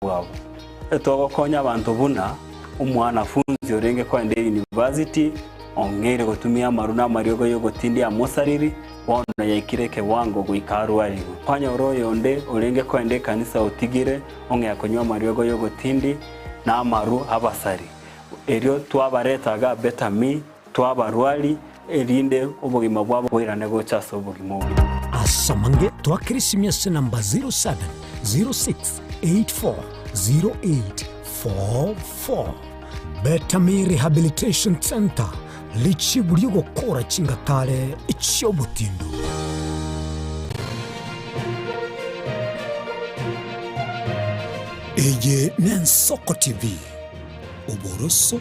bwabo. Togokonya abanto buna omwanafunsi orenge kogenda eyunivasiti ong'eire gotumia amaru na amariogo y'ogotindia amosariri, bono yaikire ekewango goika arwarigwe. Kwanyora oyonde orenge kogenda ekanisa otigire ong'ea konywa amariogo y'ogotindi na amaru 'abasari. Erio twabaretaga Beta Mi. Twabarwari, erinde obogima bwabo boirane gocha ase obogima obuya. Asamange twa Krisimiasi namba 0706840844 Betami Rehabilitation Centre Richibu ri'ogokora chingatare chi'obotindu. Eye n'Ensoko TV, oboroso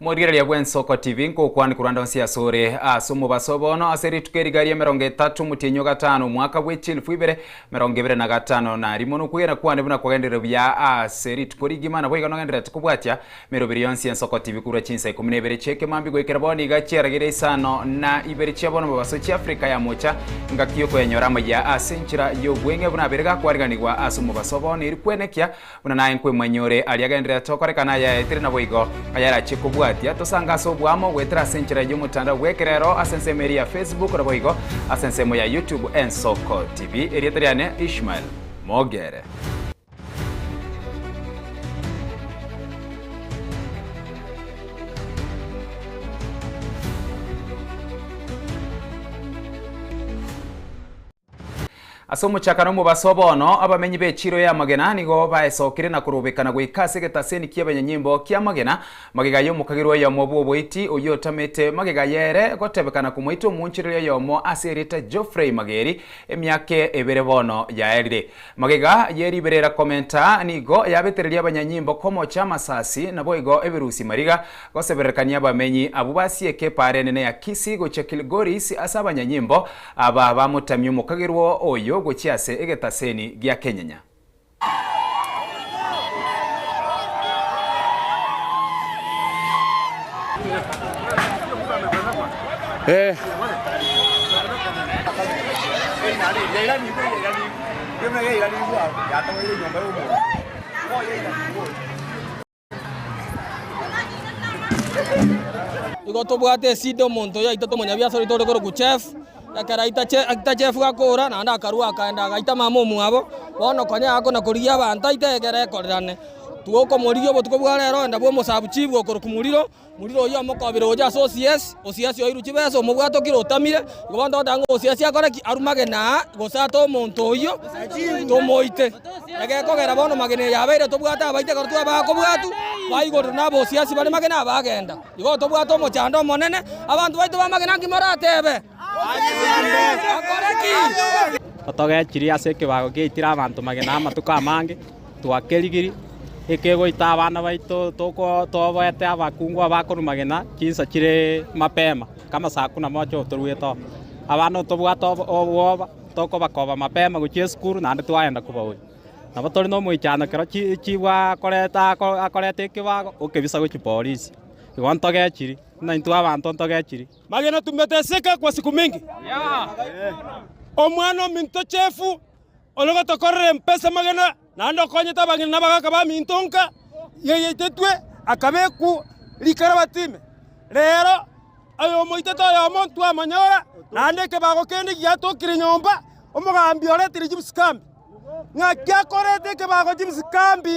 Morigereria gw'Ensoko TV nkokwania korwa ndonsi asore ase omobaso bono ase rituko eri gari emerongo etato omotienyi o gatano omwaka bwe chilifu ibere merongo ibere na gatano nari mono okwegena kwane buna kwagenderire buya ase rituko rigima naboigo nogenderete kobwatia Mirobiri yonsi y'ensoko tibikurwa chinsa ikomi na ibere chi'ekemambi goikera bono iga chiarageria isano na ibere chia bono mobaso chia Afrika ya mocha, engaki y'okoyanyora amayia ase enchera y'obweng'e buna abere gakwaariganigwa ase omobaso o bono eri kwenekea buna naye nkwemanyia ore aria genderera tokorekana ayaetire naboigo ayarachie kobwatia tosanga ase oboamo goetera ase enchera y'omotandao bw'ekerero ase ensemo eri ya Facebook naboigo ase ensemo ya YouTube Ensoko TV Erieta riane Ishmael Mogere. Ase omochaka na omobaso o bono, abamenyi b'echiro y'amagena nigo baesokire na korobekana goika ase egetaseni ki'abanyanyimbo ki'amagena, magega y'omokagera oyomo bw'oboiti, oyio otamete magega y'ere gotebekana komoita omoonchereri oyomo ase erieta Geoffrey Mageri, emiaka ebere bono yaerire. Magega ye riberera komenta nigo yabetereria abanyanyimbo komocha amasasi, naboigo ebirusi mariga gosebererekania abamenyi abwo basieke epaara enene ya Kisii gochia Kilgoris ase abanyanyimbo aba bamotamia omokagerwa oyo gochia ase egetaseni gia Kenyenya. Igo tobwate esida omonto yaitete omonyabiasara oito ore korokwa Jeff, ekero aita Jeff gakoora naende akarua akaenda agaita mama omwabo. Bono konya agakona korigia abanto aite egere ekorerane. Tigokomorigia obotuko bwa rero onde bwa omosabuchi bwokorokwa moriro. Moriri oyio omokobire gocha ase osiasi, osiasi oirwe chibesa, omobwate okire otamire. Igo bono togoteba ng'a osiasi akore ki? Arue magena aa gose ate omonto oyio tomoite. Egekogera bono magena eyo abeire tobwate abaite ekero twabakobwatu baigorire nabo osiasi bare magena aa bagenda. Igo tobwate omochando omonene, abanto baito bamagena nki moratebe? Akore ki? Totogechirie ase ekebago giaitire abanto magena amatuko amange. Twakerigirie, ekegoita abana baito tobaete abakungu abakorumagena chinsa chire mapema, kamasaku na moche otoruete oo. Abana otobwate obwoba, tokobakoba mapema gochia esukuru naende twagenda kobaonia. Nabo tore na omoichano ekero chibwe akoreta ekebago okebisa gochia polisi, igo ntogechirie, buna intwe abanto ntogechirie. Magina tumeteseka kwa siku mingi. Omwana ominto Jefu Onye gotokorere mpesa amagena, naende okonyete abang'ina na abagaaka baminto nka yaitetwe akabekwa rikarabati ime, reero ayomoitete oyomo ntwamonyora, naende ekebago kende giatokire nyomba, omogambi oretire chibisikambi, ng'aki akorete ekebago chibisikambi.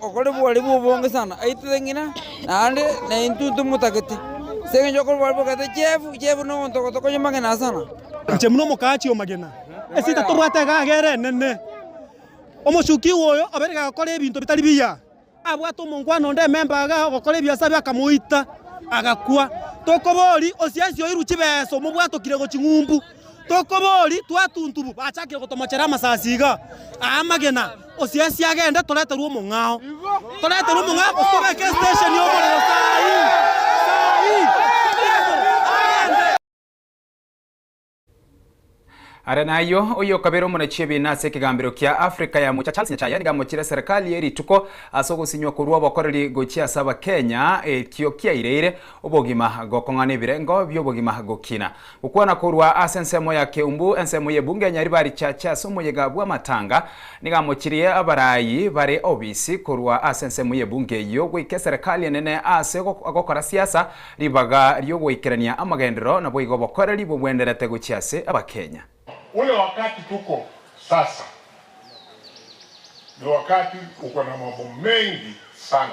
Okore bware bw'obonge sana, aitire ng'ina, naende naintwe ntomotagete, ase engencho okore bware bogete chiefu chiefu nogontogoto konya magena asana. Inche buna omokachi omagena, esita torwate egaga ere enene. Omochukigwa oyo obeire gagokora ebinto bitari biya, abwate omonkwana onde ememba iga ogokora ebiasara ebio akamoita, agakwa. Tokoboria, osiansi oirwe chibesa omobwatokire gochia ng'umbu. Tokobori twatuntubu bachakire gotomochera amasasi iga aa amagena osiasi agende toreterwe omong'ao toreterwe omong'ao gose tobeke station y'omorero saa ii saa ii toreterwe agende Are nayio, oyokabere omonachi ebiina ase ekegambero kia Africa ya mocha Charles Nyachae nigo amochire serikali eye rituko ase ogosinywa korwa obokoreri gochia ase abakenya ekio kiaireire obogima gokong'ana ebirengo bi'obogima gokina Gokwana korwa ase ensemo ya Keumbu, ensemo y'ebunge ya Nyaribari Chache ase omoyega bw'amatanga, nigo amochirie abaraayi bare obisi korwa ase ensemo y'ebunge eyio goika eserekari enene ase gokora siasa, ribaga ri'ogoikerania amagenderero naboigo obokoreri bobwenderete gochia ase Abakenya. Ule wakati tuko sasa ni wakati uko na mambo mengi sana.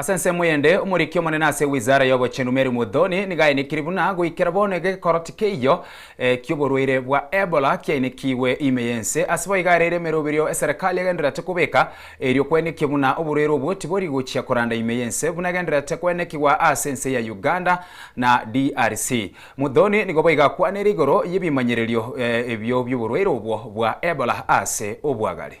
Ase ensemo eyende, omoriki omonene ase Wizara y'Obochenu Mary Muthoni nigo ainekirie buna goikera bono iga egekoroti keiyo ki'oborwaire bwa Ebola kiainekigwe ime y'ense. Ase boigo areire emeroberio eserekari egendererete kobeka erio kwainekio buna oborwaire obwo tibori gochia koranda ime y'ense buna egendererete koenekigwa aase ense ya Uganda na DRC. Muthoni nigo boigo akwanire igoro y'ebimanyererio ebio bi'oborwaire obwo bwa Ebola aase obwagare.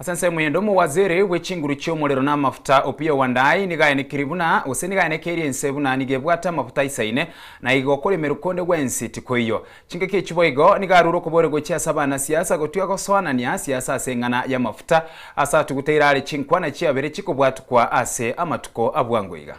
Ase ensemo ende omowaziri bwe chinguru chi'omorero na amafuta Opiyo Wandayi nigo aye ne kiribuna, gose nigo aye ne keri ense buna nigo ebwate amafuta aisaine, na igo okoremerwa konde gwensi tikoiyo. Chingaki echi boigo nigo arure okobore gochia ase abana siasa gotwia gosoanania siasa ase eng'ana y'amafuta ase atugute iraare chinkwana chiabere chikobwatukwa ase amatuko abwango iga.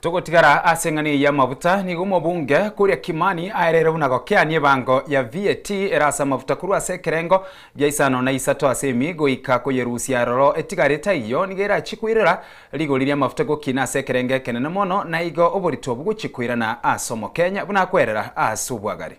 Togotigara ase eng'ana eye y'amabuta, nigo omobunge koria Kimani aereire buna gokeania ebango ya VAT ere ase amabuta korwa ase ekerengo gia isano na isato ase emi goika koyerusia aroro etigare taiyo nigo erachie koirera rigori ri'amafuta gokina ase ekerengo ekenene mono naigo oborito bogochia koirana ase omokenya buna akwerera ase obwagare.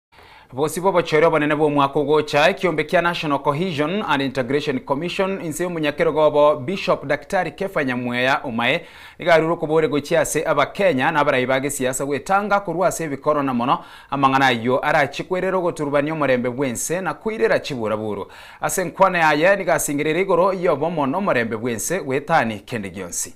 Bosio bw'obochore obonene bw'omwaka ogocha, ekiombe kia National Cohesion and Integration Commission inse y'omonyakerogo obo Bishop Daktari Kepha Nyamweya Omae nigo arure okobore gochia ase Abakenya na abarai ba gesiasa gwetanga korwa ase ebikoro na mono amang'ana ayio arachie koirera ogoturubania omorembe bw'ense na koirera chiburaburu ase enkwana yaye nigo asengereire igoro y'obomo n'omorembe bw'ense goetani kende gionsi.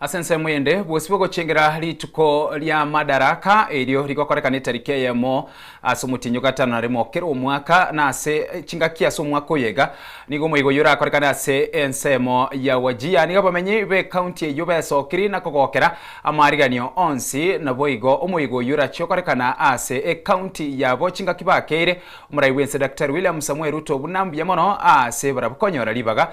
Ase ensemo eyende, bwesibwe gochengera rituko ria Madaraka, erio rigokorekana etariki eyemo ase omotienyi o gatano na remo kera omwaka, na ase chingaki ase omwaka oyo iga nigo omoigo oyio orakorekane ase ensemo ya Wajir. Nigo abamenyi b'ekaunti eyio besokirie na kogokera amarigeranio onsi, naboigo omoigo oyio orachie gokorekana ase ekaunti yabo chingaki bakeire omorai bw'ense Daktari William Samoei Ruto buna mbuya mono ase barabwo konyora ribaga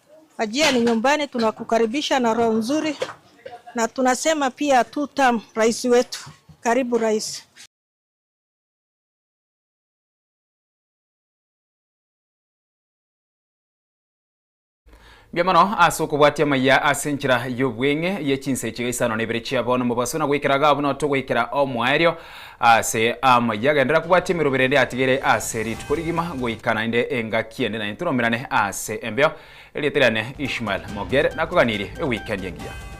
Wajia ni nyumbani tunakukaribisha na roho nzuri na tunasema pia two term rais wetu karibu rais. Mbuya mono ase okobwatia amaiya ase enchera y'obweng'e ye chinsa echiga isano na ibere chia bono, mobaso na goikera iga buna otogoikera omoerio. Aase amo ayio agenderera kobwatia emerobo erende atigere aase rituko rigima goika naende engaki ende naende toromerane aase embeo. Erieta riane Ishmael Mogere nakoganirie eweekend engiya.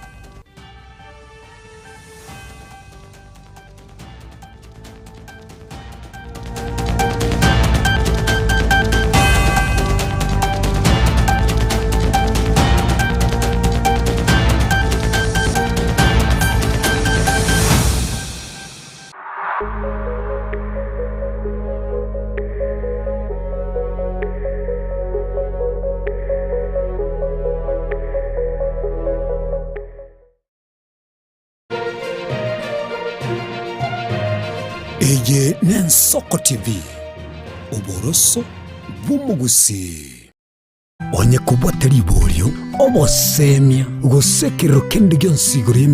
Eye n'Ensoko TV, oboroso bw'omogusii. Onye kobwate riborio, oboseemia, gose ekerero kende gionsi igoro y'emeremo.